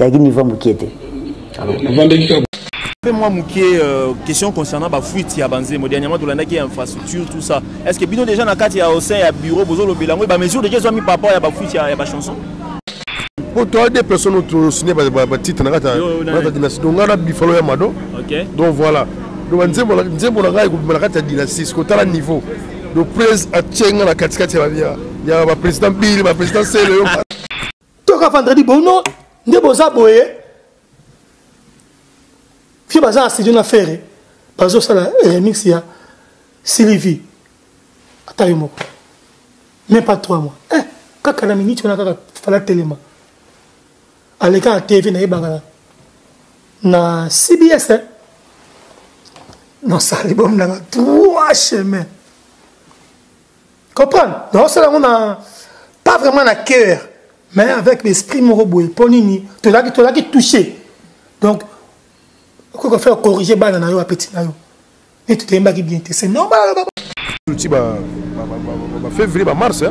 yaki niveau ya mokie te Fais moi Moukier, euh, question concernant la fuite ya Banzemo, dernièrement tu l'as dit infrastructure tout ça. Est-ce que bino déjà na kati ya au sein ya bureau bozo lo belango ba mesure déjà soit mis par rapport ya ba fuite ya ba chanson. Pour toi des personnes tu signé ba ba titre na kati na dynastie. Donc on a bifalo ya mado. OK. Donc voilà. Donc Banzemo Banzemo na kati ko na kati ya dynastie, ko tala niveau. Donc prise à Tchenga na kati kati ya ba président Bill, ba président Sele. toka vendredi bono nde boza boye fie baza na studio na fere bazosala remix ya sylvie ata yo moko même pas trois mois eh, kaka na miniti wana kaka fala telema aleka na tv nayebaka na na cbs eh? nasali bomi nanga trois chemin comprendre naosala yango na pas vraiment na cœur mais avec l'esprit moko boye mpo nini tozalaki tozalaki touché donc okoki kofaa corrige bana na yo apeti na yo nde totoyembaki bien te c'est normal ti bafévrier bamars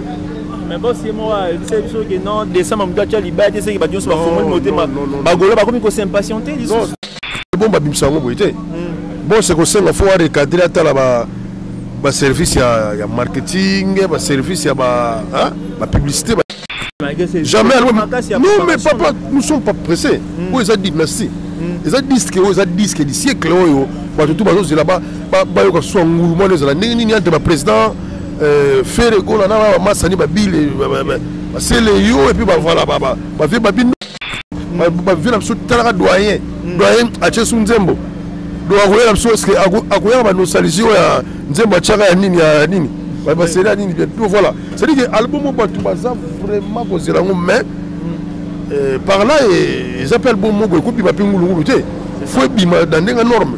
mais bosi ye moko ayebisa ye biso ke non décembre moto atya libaya te seke bato nyonso bafongoli motema bagolo bakomi kosimpatiente lisusu bon babimisa yango boye te hmm. bon se kosenga fo arecadre atala ba baservice ya, ya marketing baservice ya bapublicité ba jamais non mais papa nous sommes pas pressés hmm. oyo eza dynastie hmm. eza disque oyo eza disque du siècle oyo bato tu bazozela bayoka swa ngulu mwana ezala ndenge nini entre baprésident euh, fere gola na bamasani babile basele yo epuis bavala bavie babino bavie na biso talaka doyen mm. doyen atie su nzembo donc akoya na biso eske akoyaka banosalisi oyo ya nzembo atiaka ya nini ya nini baseli ya nini donc voilà cetadi ke album oyo bato baza vraiment kozela yango mais mm. euh, par là eza mpe album moko ekobima mpe ngulungulu te fo ebima na ndenge norme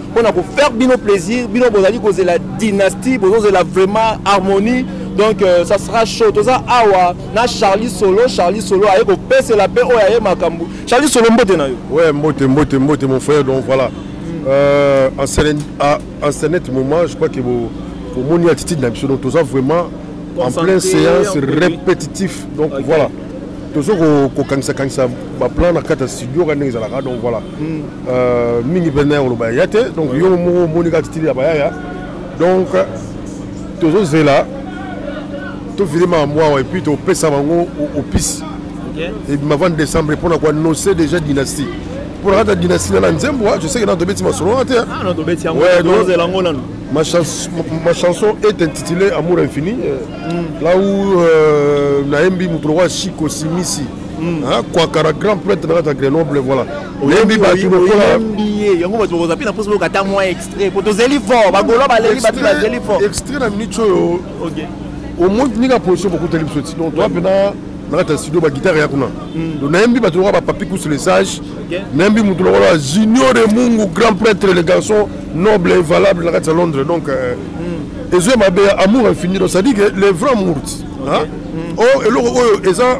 mpo na kofaire bino plaisir bino bozali kozela dynastie bozozela vraiment harmonie donc euh, ça sera chaud toza awa na charlie solo charlie solo aye kopesela mpe oyo aye makambo charlie solo mbote na yo ouais mbote mbote mbote mon frère donc voilà euh, en cernet ah, moment je crois que bomoni attitude na biso donc toza vraiment en pleine séance répétitif donc okay. voilà tozo kokangisakangisa baplan na kati ya studio ka ndenge ezalaka donc voilà Hmm, euh, mingi mpenza ya koloba ya te donc yo moko omoni kaka titili ya bayaya donc tozozela tofili makambo awa epuis topesa bango opisi ebima 20 décembre mpo na koannonce déjà dynastie mpo na kata dynastie na na nzembo je sais que nano tobeti masolo wana te ma, chans, ma, ma chanson est intitulée amour infini euh, mm. là où euh, nayembi moto lokola chiko simisi hmm. hein, kwakara grand prêtre na kati ya grenoble voilà oyembi bato lokola ye yango bato bakozwa mpe na mposa boyoka ata mwa extrait mpo tozeli fort bagolo baleli bato bazeli fort extrait na minute oyo omoi nika position bokuteli biso ti donc toi mpena na kati ya studio bagitare ya kuna hmm. donc nayembi bato lokola bapapi kusu le sage nayembi moto lokola junior de mungu grand prêtre le garçon noble et valable na kati ya londres donc euh, hmm. ezoya mabe ya amour infini donc ça dit que le vrai mourt hmm. o oh, eloko oyo eza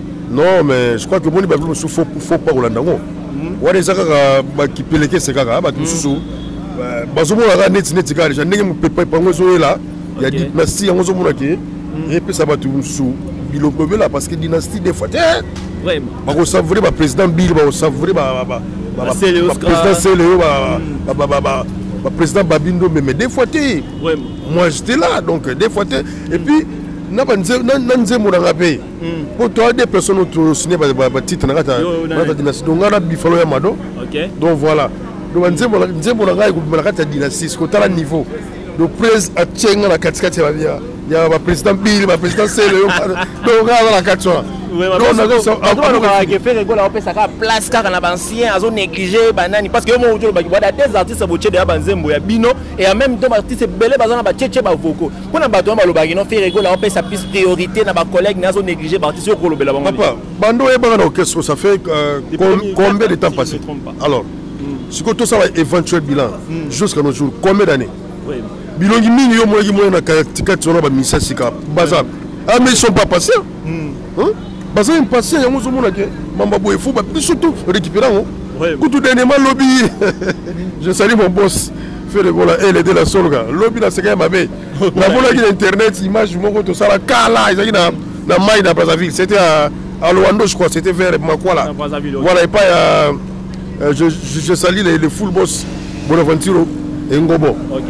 non mais je crois que omoni bato mosusu fo pa kolanda yango hmm. wana eza kaka bakipelekese kaka ah, bato hmm. mosusu bazomona kaka neti neti kaka deja ndenge mopepa epango ezoyela ya dipnastie yango ozomona ke hmm. epesa bato mosusu bilobela parce que dynastie des fois te bakosavoure baprésident bile bakosavoure baprésident seleo baprésident babindo meme des fois te moi j'étais là donc des fois te et puis na nzembo nanga mpe Hmm. po toi deux personnes oyo tosigne batitre na kati na dynastie donc ngai na bifalo ya mado donc voilà donc nzembo na ngai ekobima na kati ya dynastie sikotala niveau donc prise atie ngai na katikati ya baprésident bili baprésident sele donc ngai aza na kati wana opesaka place kaka na bancien azo néglige banani parce que yo moko tolobaki bwada des artistes botie deya banzembo ya bino et en même temps baartiste ebele baza na batiece bavoko mpo na bato wana balobaka kino fere gola apesa plus priorité na bacollègue naye azo néglige baartiste yo kolobela bango papa bando oyebaka na orchestre ça fait euh, combien de temps passé alors hmm. sikoyo tosala éventuel bilan hmm. jusqu'à nos jours combien d'année bilongi mingi yo omonaki mwana na kati wana bamisa sika baza ah mais ils sont pas passés hmm. baza impatient yango ozomona ke mamba boye fo biso to récupéra yango kutu denema lobi je sali mon boss fere bola ele de la solga lobi naseka ya mabe namonaki na internet image moko tosala kala ezalaki na na mai na brazzaville c'était à, à loando je crois c'était vers makwala voilà epai ya euh, je, je, je sali le, le full boss bonaventure engobo okay.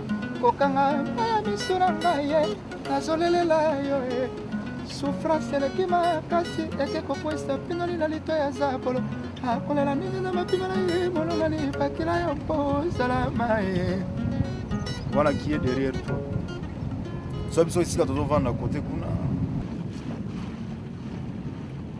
kokanga epai ya misu na ngai ye nazolelela yo ye sufrance eleki makasi eke kokwesa pinoli na lito ya zabolo akolela nini na mapinga na ye molongani bakila yo mpo ozala maye voilà qui est derrière toi so biso esika tozovanda kote kuna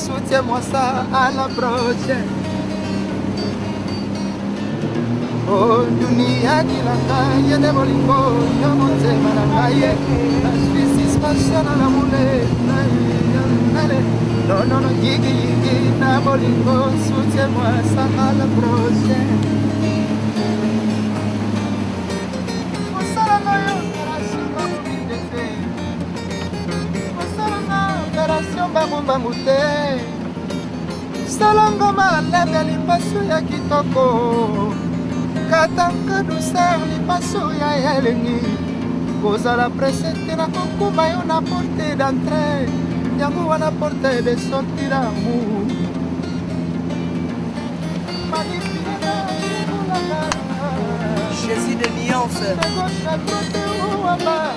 Soutien moi ça à la branche. Oh, dunia kila ngai ete bolingo yo motema na ngai na suis suspension na lamule na yale nonono yigiyigi na bolingo soutien moi ça à la branche. mbangu te salongo malebe lipaso ya kitoko katanka duser lipaso ya elengi kozala prese te na kokuma yo na porte d'entre yango wana porte de sorti d'amour Jésus de nuance.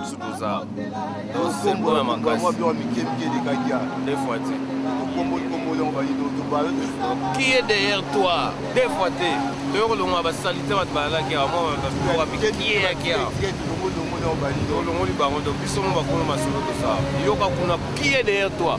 biso toza tosembola makasidefoite qui est derrière toi deux fois te toyo kolongola basalite bato balalaki awa mwabakieyaki awa olongoli bango to biso mo bakolo masolo tosaa yoka kuna qui est derrière toi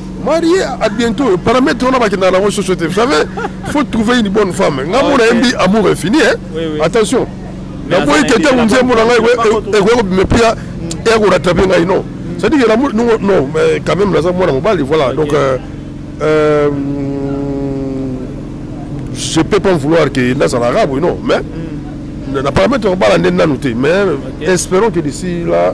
marie à bientôt paramètre wana bakendaka nango soso te vous savez faut trouver une bonne femme nga mona yembi amour infini hein? oui, oui. attention naboyi te ntango nzembo na ngai ekoki kobima mpe eya koratrape ngai non cest dire que non mais quand même naza mwana mobali voilà donc euh, euh, je peux pas vouloir que nazala arabe non mais mm. na paramètre kobala nde nanu te mais espérons que d'ici là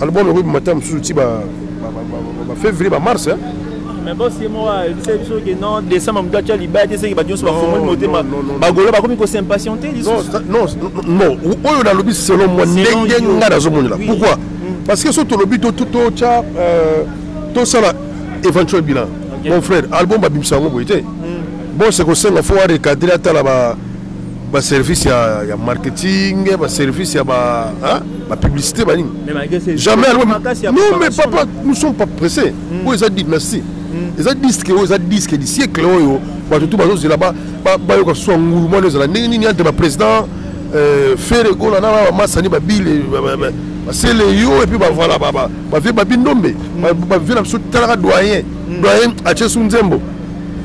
album ekoki bimata mosusu ti bafevrier bamars mais bosi ye moko ayebisa ye biso ke non décembre moto atya libaya te seke bato nyonso bafongoli motema bagolo bakomi kosimpatiente lisusunon oyo nalobi selon moi ndenge ngai nazomonela pourquoi hmm. parce que so tolobi totya euh, tosala éventuel bilan mon frère album babimisa yango boye te hmm. bose kosenga fo arecadre atala ba service ya, ya marketing ba service ya ba hein, ba publicité ba nini jamais alors non mais papa nous sommes pas pressés mm. oyo eza dynastie mm. eza disque oyo eza disque du siècle oyo bato tu bazozela bayoka soa ngulu mwana ezala ndenge nini entre ba président euh, fere gola na bamasani babile basele yo epuis bavala bavie babindombe bavie na biso talaka doyen doyen atie su nzembo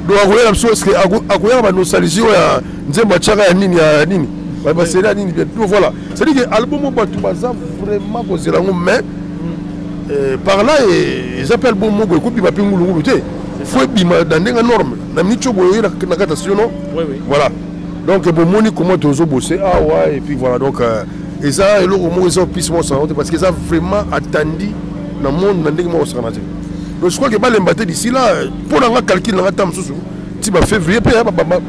donc akoyela biso eske akoyaka banosalisi oyo ya nzembo atiaka ya nini ya nini baseli ya nini bientôt voilà cetadi ke album oyo bato baza vraiment kozela yango mais euh, par là eza mpe album moko ekobima mpe ngulungulu te fo ebima na ndenge norme na miniti oyo boyoye na kati ya sino voilà donc bomoni comment tozo bose awa ah et puis voilà donc euh, eza eloko moko eza opisi moko osakana te parce que eza vraiment atandi na monde na ndenge moko osakana te donc je crois que balemba te d'ici là mpo na nga calcul na nga ta mosusu ti ba février mpe bamars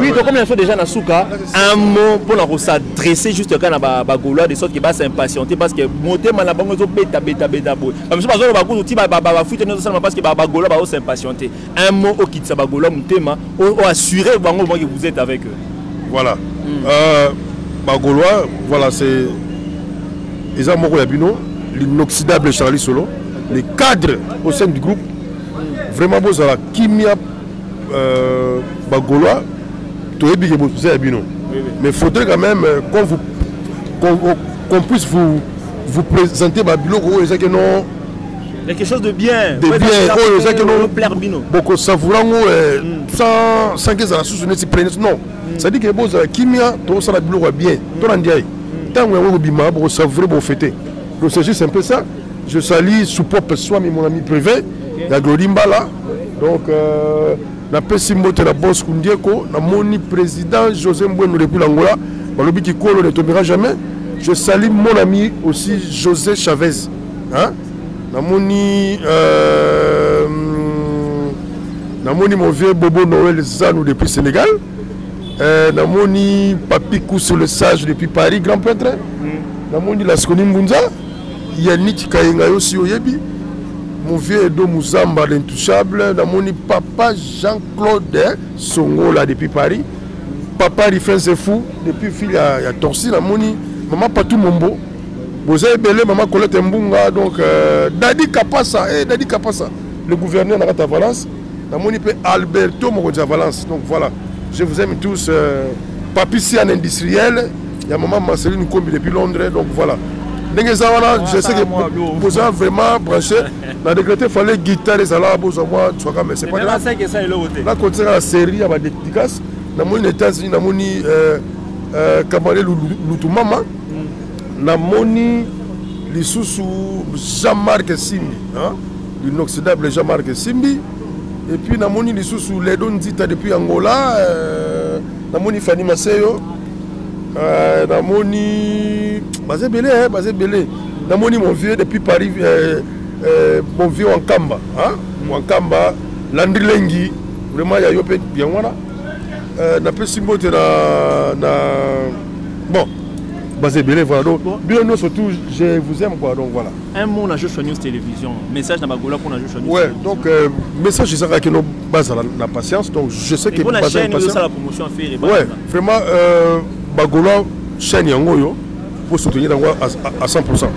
oui tokomi na so déjà na suka un mot mpo na kosadresse juste kaka na bagaulois de sorte ke basimpatiente parce que motema na bango ezobeta beta beta boye bamisu bazoloba kutu ti bafuite nde ezosalama parce que bagaulois baosimpatiente un mot au okitisa bagola motema oassure bango moi que vous êtes avec eux voilà mm. euh, bagolois voilà c'est eza moko ya bino l'inoxydable charlie solo les cadres au sein du groupe vraiment bozala kimia euh, bagolois toyebi ke boza ya bino mais faudrait quand même euh, qu'on vous qu'on qu puisse vous vous présenter babiloko oyo ezaki non quelque chose de bien de bien oyo ezaki bokosavoura yango eh, hmm. sanke ezala susu neti plenis non hmm. cestadire ke bozala kimia tokosala biloko ya bien hmm. to na ndiaye ntango yango ekobima bokosavoure bofete donc c'est juste un peu ça je salis sous propre soami mon ami privé ya glori mbala donc euh, napesi mbote na bos kundieko namoni président josé mbwenu depuis langola balobi kikolo ne tombera jamais je salis mon ami aussi josé chavez hein namoni euh, namoni mon vieux bobo noël zanu depuis sénégal euh, namoni papi kuso le sage depuis paris grand prêtre mm. namoni laskoni mbunza yaniki kayenga yo si oyebi mon vieux edo muzamba l'intouchable namoni papa jean claude songola depuis paris papa rifense fou depuis fille ya, ya torsi namoni mama patou mombo boza ebele mama colete mbunga donc euh, dadi kapasa eh, dadi kapasa le gouverneur na kati ya valence namoni mpe alberto mokonzi ya valence donc voilà je vous aime tous euh, papi sian industriel ya mama marceline kombi depuis londres donc voilà ndenge eza wana je sais que boza vraiment branché na décrété fallait guitare ezala bozwa mwa tswaka mais c'est pas grave nakotisaka na série ya badédicace namoni na états-unis namoni euh, euh, kamale lutumama namoni lisusu jean marc simbi l'inoxydable jean marc simbi et puis namoni lisusu ledo nzita depuis angola euh, namoni fani maseyo euh, namoni baza ebele eh, baza ebele namoni mon vieux depuis paris euh, euh, mon vieux wankamba hein? Mm. wankamba landri lengi vraiment ya yo mpe yango wana euh, napesi mbote na, na bon baza ebele voilà donc bino nyonso tout je vous aime quoi donc voilà un mot na joshua news télévision message na bagola mpo na joshua news ouais donc euh, message ezaka kino bazala na patience donc je sais que baza chaîne osala promotion ya ferre ouais vraiment euh, bagola chaîne yango oyo pour soutenir yango à 100%